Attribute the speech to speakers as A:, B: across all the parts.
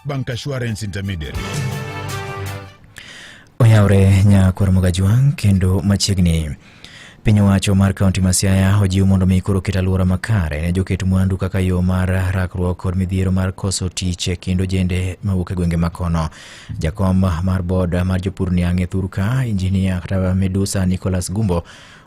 A: Bank Assurance Intermediary.
B: Oyawre nyakwar Mogajwang' kendo machiegni Piny owacho mar kaunti ma Siaya ojiw mondo mi koro ket alwora makare ne joket mwandu kaka yo mar rakruok kod midhiero mar koso tich e kind ojende mawuok e gwenge makono. Jakom mar bod mar jopur niang' e thurka injinia kata medusa Nicholas Gumbo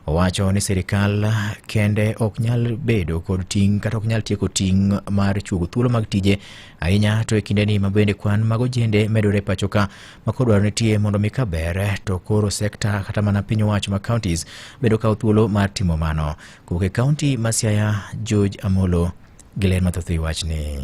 B: owacho ni sirikal kende ok nyal bedo kod ting' kata ok nyal tieko ting' mar chuogo thuolo mag tije ahinya to e kindeni ma bende kwan mag ojende medore e pacho ka ma koro dwaro nitie mondo mi ka ber to koro sekta kata mana piny owacho ma counties bedo kawo thuolo mar timo mano kowuok e kaunti ma Siaya George Amolo gi ler mathoth e wi wachni.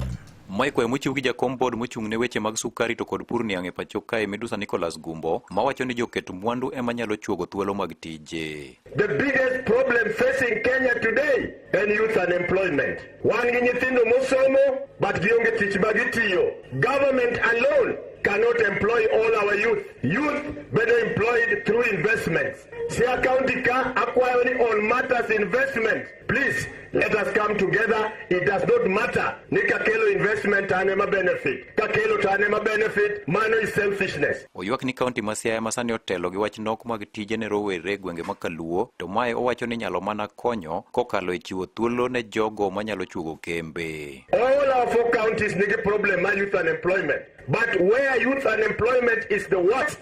B: Mae kwayo mochiw
C: gi jakom board mochung' ne weche mag sukari to kod pur niang' e pacho kae midusa Nicholas Gumbo mawacho ni joket mwandu ema nyalo chuogo thuolo mag tije. The biggest
D: problem facing Kenya today en youth unemployment. Wan gi nyithindo mosomo but gionge tich ma gitiyo. Government alone cannot employ all our youth. Youth better employed through investments. Siaya County ka akwayo ni on matters investment Please, let us come together. It does not matter. Ni kakelo investment an ema benefit. Kakelo to an ema benefit. Mano is selfishness. Oywak ni kaunti ma
C: Siaya ma sani otelo gi wach nok mag tije ne rowere e gwenge ma Kaluo, to mae owacho ni nyalo mana konyo kokalo e chiwo thuolo ne jogo manyalo chuogo kembe. All our four
D: counties nigi problem ma youth unemployment. But where youth unemployment is the worst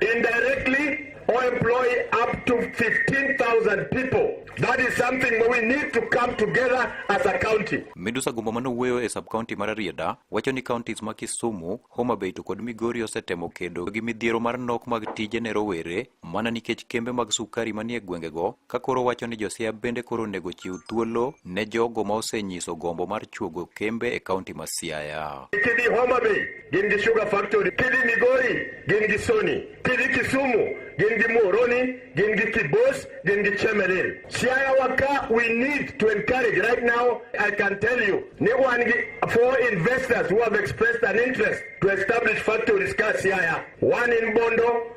D: indirectly or employ up to 15,000 people. That is something we need to come together as a county. Midusa Gumbo mano wuoyo
C: e sub-county mar Rieda wacho ni counties ma Kisumu, Homa Bay to kod Migori osetemo kedo gi midhiero mar nok mag tije ne rowere mana nikech kembe mag sukari manie gwengego ka koro wacho ni Josia bende koro onego chiw thuolo ne jogo ma osenyiso gombo mar chuogo kembe e kaunti ma Siaya. Kidhi Homa Bay
D: gin gi Sugar Factory, kidhi Migori gin gi Sony, kidhi Kisumu gin gi Muhoroni, gin gi Kibos, gin gi Chemelil. Siaya waka we need to encourage right now, I can tell you, ni wan gi four investors who have expressed an interest to establish factories ka Siaya. One in Bondo,